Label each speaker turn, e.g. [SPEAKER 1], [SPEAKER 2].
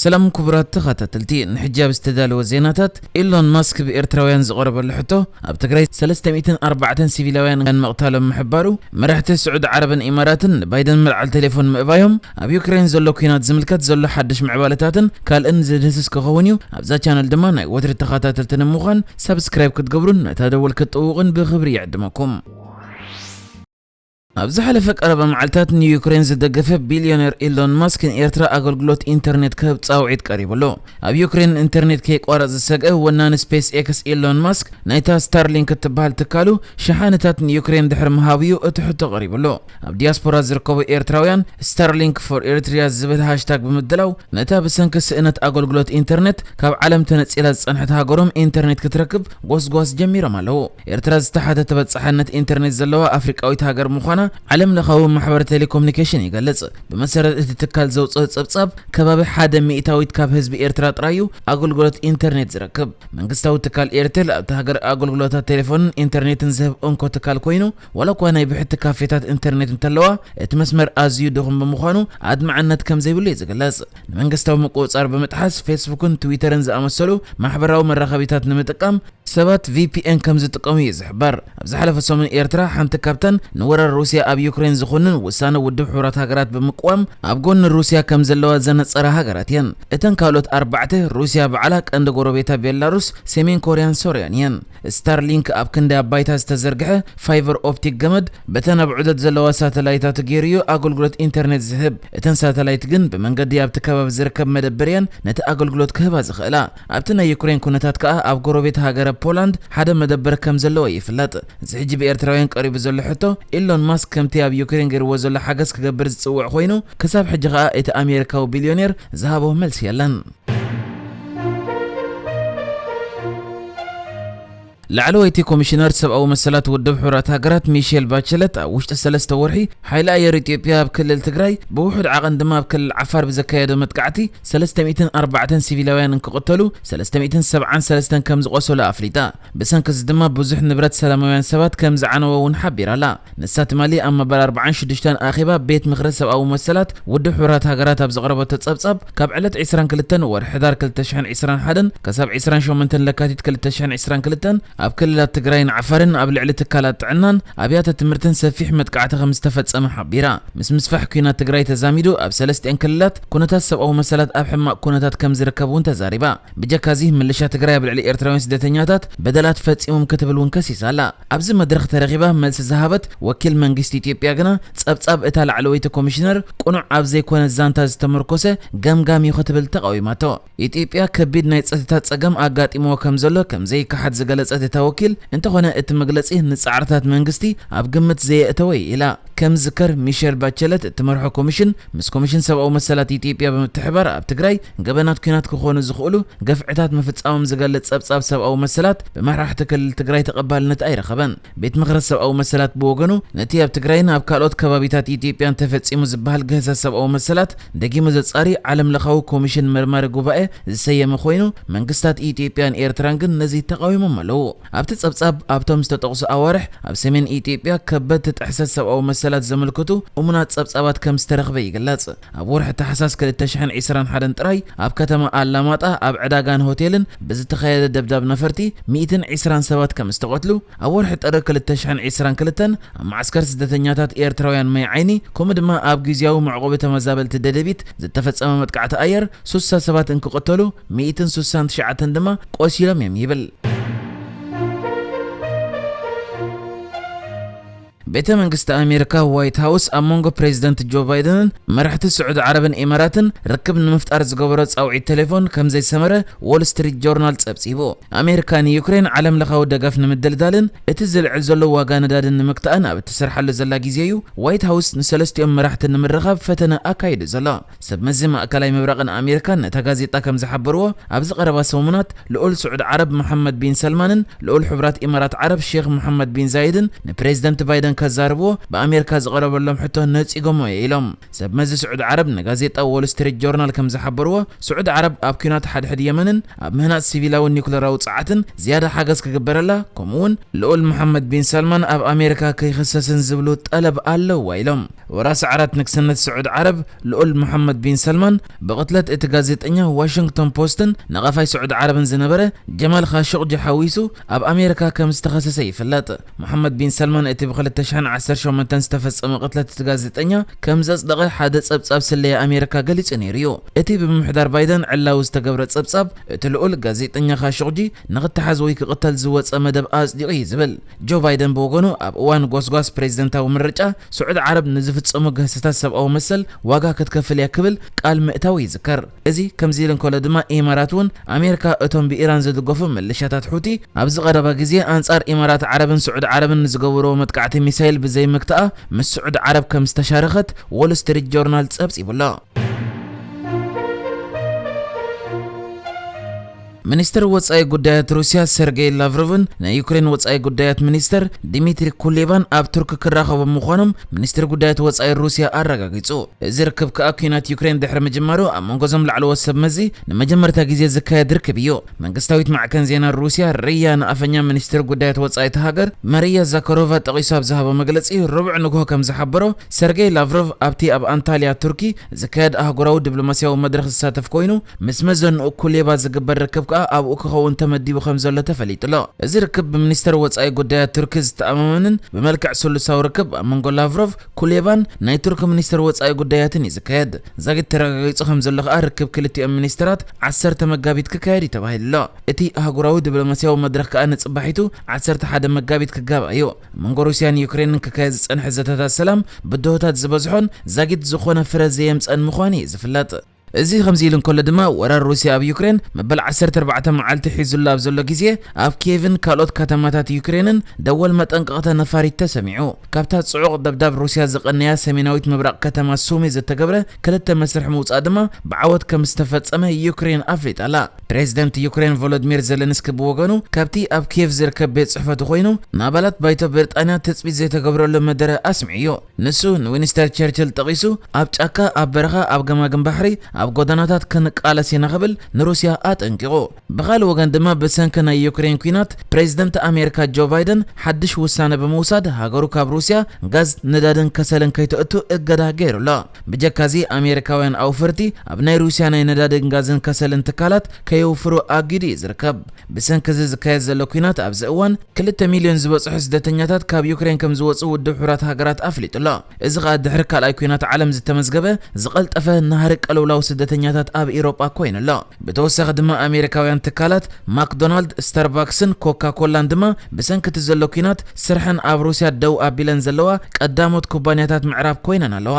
[SPEAKER 1] ሰላም ኩቡራት ተኻታተልቲ ንሕጂ ኣብ ዝተዳለወ ዜናታት ኤሎን ማስክ ብ ኤርትራውያን ዝቐረበሉ ሕቶ ኣብ ትግራይ ሰለስተ ሚእትን ኣርባዕተን ሲቪላውያን ምቕታሎም ምሕባሩ መራሕቲ ስዑዲ ዓረብን ኢማራትን ንባይደን መልዓል ቴሌፎን ምእባዮም ኣብ ዩክሬን ዘሎ ኩናት ዝምልከት ዘሎ ሓድሽ ምዕባለታትን ካልእን ዝድህስስ ክኸውን እዩ ኣብዛ ቻነል ድማ ናይ ወትሪ ተኻታተልቲ ንምዃን ሳብስክራይብ ክትገብሩን ነታ ደወል ክትጥውቑን ብኽብሪ ይዕድመኩም። ኣብ ዝሓለፈ ቀረባ መዓልታት ንዩክሬን ዝደገፈ ቢልዮነር ኤሎን ማስክ ንኤርትራ ኣገልግሎት ኢንተርኔት ክህብ ጻውዒት ቀሪቡሉ። ኣብ ዩክሬን ንኢንተርኔት ከይቋረጽ ዝሰግአ ወናኒ ስፔስ ኤክስ ኤሎን ማስክ ናይታ ስታርሊንክ እትበሃል ትካሉ ሸሓነታት ንዩክሬን ድሕሪ ምሃቡ'ዩ እቲ ሕቶ ቀሪቡሉ። ኣብ ዲያስፖራ ዝርከቡ ኤርትራውያን ስታርሊንክ ፎር ኤሪትሪያ ዝብል ሃሽታግ ብምድላው ነታ ብሰንኪ ስእነት ኣገልግሎት ኢንተርኔት ካብ ዓለም ተነጺላ ዝጸንሐት ሃገሮም ኢንተርኔት ክትረክብ ጎስጓስ ጀሚሮም ኣለዉ። ኤርትራ ዝተሓተ ተበጻሕነት ኢንተርኔት ዘለዋ ኣፍሪቃዊት ሃገር ምዃና ዓለም ለኻዊ ማሕበር ቴሌኮምኒኬሽን ይገልጽ። ብመሰረት እቲ ትካል ዘውጽኦ ጸብጻብ፣ ከባቢ ሓደ ሚእታዊት ካብ ህዝቢ ኤርትራ ጥራይ'ዩ ኣገልግሎት ኢንተርኔት ዝረክብ። መንግስታዊ ትካል ኤርቴል ኣብታ ሃገር ኣገልግሎታት ቴሌፎንን ኢንተርኔትን ዝህብ እንኮ ትካል ኮይኑ፣ ዋላኳ ናይ ብሕቲ ካፌታት ኢንተርኔት እንተለዋ፣ እቲ መስመር ኣዝዩ ድኹም ብምዃኑ ኣድማዕነት ከምዘይብሉ'ዩ ዝግለጽ። ንመንግስታዊ ምቁጽጻር ብምጥሓስ ፌስቡክን ትዊተርን ዝኣመሰሉ ማሕበራዊ መራኸቢታት ንምጥቃም ሰባት ቪፒኤን ከም ዝጥቀሙ እዩ ዝሕበር። ኣብ ዝሓለፈ ሰሙን ኤርትራ ሓንቲ ካብተን ንወራር ሩስያ ኣብ ዩክሬን ዝኹንን ውሳነ ውድብ ሕቡራት ሃገራት ብምቅዋም ኣብ ጎኒ ሩስያ ከም ዘለዋ ዘነጸራ ሃገራት እየን። እተን ካልኦት ኣርባዕተ ሩስያ ባዕላ፣ ቀንዲ ጎረቤታ ቤላሩስ፣ ሰሜን ኮርያን ሶርያን እየን። ስታርሊንክ ኣብ ክንዲ ኣብ ባይታ ዝተዘርግሐ ፋይቨር ኦፕቲክ ገመድ፣ በተን ኣብ ዑደት ዘለዋ ሳተላይታቱ ገይሩ እዩ ኣገልግሎት ኢንተርኔት ዝህብ። እተን ሳተላይት ግን ብመንገዲ ኣብቲ ከባቢ ዝርከብ መደብር እየን ነቲ ኣገልግሎት ክህባ ዝኽእላ። ኣብቲ ናይ ዩክሬን ኩነታት ከኣ ኣብ ጎረቤት ሃገረ ፖላንድ ሓደ መደብር ከም ዘለዎ ይፍለጥ። እዚ ሕጂ ብኤርትራውያን ቀሪቡ ዘሎ ሕቶ፣ ኢሎን ማስክ ከምቲ ኣብ ዩክሬን ገይርዎ ዘሎ ሓገዝ ክገብር ዝጽውዕ ኮይኑ፣ ክሳብ ሕጂ ከኣ እቲ ኣሜሪካዊ ቢልዮኔር ዝሃቦ መልሲ የለን። ላዕለወይቲ ኮሚሽነር ሰብኣዊ መሰላት ውድብ ሕቡራት ሃገራት ሚሼል ባቸለት ኣብ ውሽጢ ሰለስተ ወርሒ ሓይሊ ኣየር ኢትዮጵያ ኣብ ክልል ትግራይ ብውሑድ ዓቐን ድማ ኣብ ክልል ዓፋር ብዘካየዶ መጥቃዕቲ 304 ሲቪላውያን እንክቕተሉ 373 ከምዝቖሰሉ ኣፍሊጣ። ብሰንኪ እዚ ድማ ብዙሕ ንብረት ሰላማውያን ሰባት ከም ዝዓነወ እውን ሓቢራ ኣላ። ንሳ ትማሊ ኣብ መበል ኣርባዓን ሽዱሽተን ኣኼባ ቤት ምኽሪ ሰብኣዊ መሰላት ውድብ ሕቡራት ሃገራት ኣብ ዘቕረበቶ ጸብጻብ፣ ካብ ዕለት ዕስራን ክልተን ወርሒ ሕዳር ክልተ ሽሕን ዕስራን ሓደን ከሳብ ዕስራን ሸሞንተን ለካቲት ክልተ ሽሕን ዕስራን ክልተን ኣብ ክልላት ትግራይን ዓፋርን ኣብ ልዕሊ ትካላት ጥዕናን ኣብያተ ትምህርትን ሰፊሕ መጥቃዕቲ ከም ዝተፈጸመ ሓቢራ። ምስ ምስፋሕ ኲናት ትግራይ ተዛሚዱ ኣብ ሰለስቲኣን ክልላት ኩነታት ሰብኣዊ መሰላት ኣብ ሕማቕ ኩነታት ከም ዝርከብ እውን ተዛሪባ። ብጀካ እዚ ምልሻ ትግራይ ኣብ ልዕሊ ኤርትራውያን ስደተኛታት በደላት ፈጺሞም ክትብል እውን ከሲሳ ኣላ። ኣብዚ መድረኽ ተረኺባ መልሲ ዝሃበት ወኪል መንግስቲ ኢትዮጵያ ግና ጸብጻብ እታ ላዕለወይቲ ኮሚሽነር ቅኑዕ ኣብ ዘይኮነ ዛንታ ዝተመርኮሰ ገምጋም እዩ ክትብል ተቓዊማቶ። ኢትዮጵያ ከቢድ ናይ ጸጥታ ጸገም ኣጋጢምዎ ከም ዘሎ ከም ዘይከሓድ ዝገለጸት እታ ወኪል እንተኾነ እቲ መግለጺ ንጻዕርታት መንግስቲ ኣብ ግምት ዘየእተወ እዩ ኢላ። ከም ዝዝከር ሚሸል ባቸለት እትመርሖ ኮሚሽን ምስ ኮሚሽን ሰብኣዊ መሰላት ኢትዮጵያ ብምትሕብባር ኣብ ትግራይ ገበናት ኲናት ክኾኑ ዝኽእሉ ገፍዕታት ምፍፃሞም ዝገልፅ ፀብፃብ ሰብኣዊ መሰላት ብመራሕቲ ክልል ትግራይ ተቐባልነት ኣይረኸበን። ቤት ምኽሪ ሰብኣዊ መሰላት ብወገኑ ነቲ ኣብ ትግራይን ኣብ ካልኦት ከባቢታት ኢትዮጵያን ተፈፂሙ ዝበሃል ግህሰት ሰብኣዊ መሰላት ደጊሙ ዘፃሪ ዓለም ለኻዊ ኮሚሽን መርማሪ ጉባኤ ዝሰየመ ኮይኑ መንግስታት ኢትዮጵያን ኤርትራን ግን ነዚ ተቓዊሞም ኣለው። ኣብቲ ጸብጻብ፣ ኣብቶም ዝተጠቕሱ ኣዋርሕ ኣብ ሰሜን ኢትዮጵያ ከበድቲ ጥሕሰት ሰብኣዊ መሰላት ዘመልክቱ እሙናት ጸብጻባት ከም ዝተረኽበ ይግለጽ። ኣብ ወርሒ ታሕሳስ ክልተ ሽሕን ዕስራን ሓደን ጥራይ፣ ኣብ ከተማ ኣላማጣ ኣብ ዕዳጋን ሆቴልን ብዝተኻየደ ደብዳብ ነፈርቲ ሚእትን ዕስራን ሰባት ከም ዝተቐትሉ፣ ኣብ ወርሒ ጥሪ ክልተ ሽሕን ዕስራን ክልተን ኣብ መዓስከር ስደተኛታት ኤርትራውያን ማይ-ዓይኒ ከምኡ ድማ ኣብ ግዝያዊ መዕቖቢ ተመዛበልቲ ደደቢት ዝተፈጸመ መጥቃዕቲ ኣየር ሱሳ ሰባት እንክቕተሉ ሚእትን ሱሳን ትሽዓተን ድማ ቆሲሎም እዮም ይብል። ቤተ መንግስቲ ኣሜሪካ ዋይት ሃውስ ኣብ መንጎ ፕሬዚደንት ጆ ባይደንን መራሕቲ ስዑዲ ዓረብን ኢማራትን ርክብ ንምፍጣር ዝገበሮ ጻውዒት ቴሌፎን ከምዘይሰመረ ዎል ስትሪት ጆርናል ጸብጺቡ። ኣሜሪካ ንዩክሬን ዓለም ለኻዊ ደገፍ ንምድልዳልን እቲ ዝልዕል ዘሎ ዋጋ ነዳድን ንምግታእን ኣብ እትሰርሓሉ ዘላ ግዜ እዩ ዋይት ሃውስ ንሰለስቲኦም መራሕቲ ንምርኻብ ፈተነ ኣካይዱ ዘሎ። ሰብ መዚ ማእከላይ ምብራቕን ኣሜሪካን ነታ ጋዜጣ ከም ዝሓበርዎ፣ ኣብዚ ቀረባ ሰሙናት ልኡል ስዑድ ዓረብ መሓመድ ቢን ሰልማንን ልኡል ሕቡራት ኢማራት ዓረብ ሼኽ መሓመድ ቢን ዛይድን ንፕረዚደንት ባይደን ከዛርብዎ ብኣሜሪካ ዝቐረበሎም ሕቶ ነጺጎሞ እየ ኢሎም። ሰብ መዚ ስዑድ ዓረብ ንጋዜጣ ዎል ስትሪት ጆርናል ከም ዝሓበርዎ፣ ስዑድ ዓረብ ኣብ ኲናት ሓድሕድ የመንን ኣብ ምህናጽ ሲቪላዊ ኒዩክለራዊ ጸዓትን ዝያዳ ሓገዝ ክግበረላ ከምኡ'ውን ልኡል መሓመድ ቢን ሰልማን ኣብ ኣሜሪካ ከይኽሰስን ዝብሉ ጠለብ ኣለውዋ ኢሎም። ወረ ስዕረት ንግስነት ስዑድ ዓረብ ልኡል ሞሓመድ ቢን ሰልማን ብቕትለት እቲ ጋዜጠኛ ዋሽንግቶን ፖስትን ነቓፋይ ስዑድ ዓረብን ዝነበረ ጀማል ኻሾቕጂ ሓዊሱ ኣብ ኣሜሪካ ከም ዝተኸሰሰ ይፍለጥ። ሞሓመድ ቢን ሰልማን እቲ ብ ክልተ ሽሕን ዓሰርተ ሸሞንተን ዝተፈጸመ ቅትለት እቲ ጋዜጠኛ ከም ዘጽደቐ ሓደ ጸብጻብ ስለያ ኣሜሪካ ገሊጹ ነይሩ'ዩ። እቲ ብምምሕዳር ባይደን ዕላዊ ዝተገብረ ጸብጻብ እቲ ልኡል ጋዜጠኛ ኻሾቕጂ ንኽተሓዝ ወይ ክቕተል ዝወጸ መደብ ኣጽዲቑ እዩ ዝብል። ጆ ባይደን ብወገኑ ኣብ እዋን ጎስጓስ ፕሬዝደንታዊ ምርጫ፣ ስዑድ ዓረብ ንዝፍጸሙ ግህሰታት ሰብኣዊ መሰል ዋጋ ክትከፍል እያ ክብል ቃል ምእታዉ ይዝከር። እዚ ከምዚ ኢሉ እንከሎ ድማ ኢማራት እውን ኣሜርካ እቶም ብኢራን ዝድገፉ ምልሻታት ሑቲ ኣብዚ ቀረባ ግዜ ኣንጻር ኢማራት ዓረብን ስዑድ ዓረብን ንዝገበርዎ መጥቃዕቲ ሚሳይል ብዘይምግትኣ ምስ ስዑድ ዓረብ ከም ዝተሻረከት ዎል ስትሪት ጆርናል ጸብጺቡ ኣሎ። ሚኒስተር ወጻኢ ጉዳያት ሩስያ ሰርጌይ ላቭሮቭን ናይ ዩክሬን ወጻኢ ጉዳያት ሚኒስተር ዲሚትሪ ኩሌባን ኣብ ቱርኪ ክራኸቡ ምዃኖም ሚኒስትሪ ጉዳያት ወጻኢ ሩስያ ኣረጋጊጹ። እዚ ርክብ ከኣ ኲናት ዩክሬን ድሕሪ ምጅማሩ ኣብ መንጎ እዞም ላዕለዎት ሰብ መዚ ንመጀመርታ ግዜ ዝካየድ ርክብ እዩ። መንግስታዊት ማዕከን ዜና ሩስያ ርያ ንኣፈኛ ሚኒስትሪ ጉዳያት ወጻኢ እታ ሃገር ማርያ ዛካሮቫ ጠቒሱ ኣብ ዝሃቦ መግለጺ ረቡዕ ንግሆ ከም ዝሓበሮ ሰርጌይ ላቭሮቭ ኣብቲ ኣብ ኣንታልያ ቱርኪ ዝካየድ ኣህጉራዊ ዲፕሎማስያዊ መድረኽ ዝሳተፍ ኮይኑ ምስ መዘንኡ ኩሌባ ዝግበር ርክብ ከኣ ኣብኡ ክኸውን ተመዲቡ ከምዘሎ ተፈሊጡ'ሎ። እዚ ርክብ ብሚኒስተር ወጻኢ ጉዳያት ቱርኪ ዝተኣማመንን ብመልክዕ ስሉሳዊ ርክብ ኣብ መንጎ ላቭሮቭ፣ ኩሌባን ናይ ቱርኪ ሚኒስተር ወጻኢ ጉዳያትን እዩ ዝካየድ። ዛጊት ተረጋጊጹ ከምዘሎ ከኣ ርክብ ክልቲኦም ሚኒስተራት ዓሰርተ መጋቢት ክካየድ እዩ ተባሂሉ'ሎ። እቲ ኣህጉራዊ ድብሎማስያዊ መድረኽ ከኣ ንጽባሒቱ ዓሰርተ ሓደ መጋቢት ክጋባእ እዩ። ኣብ መንጎ ሩስያን ዩክሬንን ክካየድ ዝጸንሐ ዘተታት ሰላም ብድሆታት ዝበዝሖን ዛጊት ዝኾነ ፍረ ዘየምጸኣን ምዃኑ እዩ ዝፍለጥ። እዚ ከምዚ ኢሉ እንከሎ ድማ ወራር ሩስያ ኣብ ዩክሬን መበል ዓሰርተ ኣርባዕተ መዓልቲ ሒዙላ ኣብ ዘሎ ግዜ ኣብ ኬቭን ካልኦት ከተማታት ዩክሬንን ደወል መጠንቀቕታ ነፋሪት ተሰሚዑ። ካብታ ጽዑቕ ደብዳብ ሩስያ ዝቐነያ ሰሜናዊት ምብራቕ ከተማ ሱሚ ዝተገብረ ክልተ መስርሕ ምውጻእ ድማ ብዓወት ከም ዝተፈጸመ ዩክሬን ኣፍሊጣ'ላ። ፕሬዝደንት ዩክሬን ቮሎድሚር ዘለንስኪ ብወገኑ ካብቲ ኣብ ኬቭ ዝርከብ ቤት ጽሕፈቱ ኮይኑ ንኣባላት ባይቶ ብሪጣንያ ትጽቢት ዘይተገብረሉ መደረ ኣስሚዑ'ዩ። ንሱ ንዊንስተር ቸርችል ጠቒሱ፣ ኣብ ጫካ፣ ኣብ በረኻ፣ ኣብ ገማግም ባሕሪ፣ ኣብ ጎደናታት ክንቃለስ ኢና ክብል ንሩስያ ኣጠንቂቑ። ብኻልእ ወገን ድማ ብሰንኪ ናይ ዩክሬን ኲናት ፕሬዝደንት ኣሜሪካ ጆ ባይደን ሓድሽ ውሳነ ብምውሳድ ሃገሩ ካብ ሩስያ ጋዝ፣ ነዳድን ከሰልን ከይተእቱ እገዳ ገይሩ ኣሎ። ብጀካ እዚ ኣሜሪካውያን ኣውፈርቲ ኣብ ናይ ሩስያ ናይ ነዳድን ጋዝን ከሰልን ትካላት ከየውፍሩ ኣጊዱ እዩ ዝርከብ። ብሰንኪ እዚ ዝካየድ ዘሎ ኲናት ኣብዚ እዋን ክልተ ሚልዮን ዝበጽሑ ስደተኛታት ካብ ዩክሬን ከም ዝወጽኡ ውድብ ሕቡራት ሃገራት ኣፍሊጡ ኣሎ። እዚ ኸኣ ድሕሪ ካልኣይ ኲናት ዓለም ዝተመዝገበ ዝቐልጠፈ ናህሪ ቅልውላው ስደተኛታት ኣብ ኢሮጳ ኮይኑ ኣሎ። ብተወሳኺ ድማ ኣሜሪካውያን ትካላት ማክዶናልድ፣ ስታርባክስን ኮካ ኮላን ድማ ብሰንኪ እቲ ዘሎ ኲናት ስርሐን ኣብ ሩስያ ደው ኣቢለን ዘለዋ ቀዳሞት ኩባንያታት ምዕራብ ኮይነን ኣለዋ።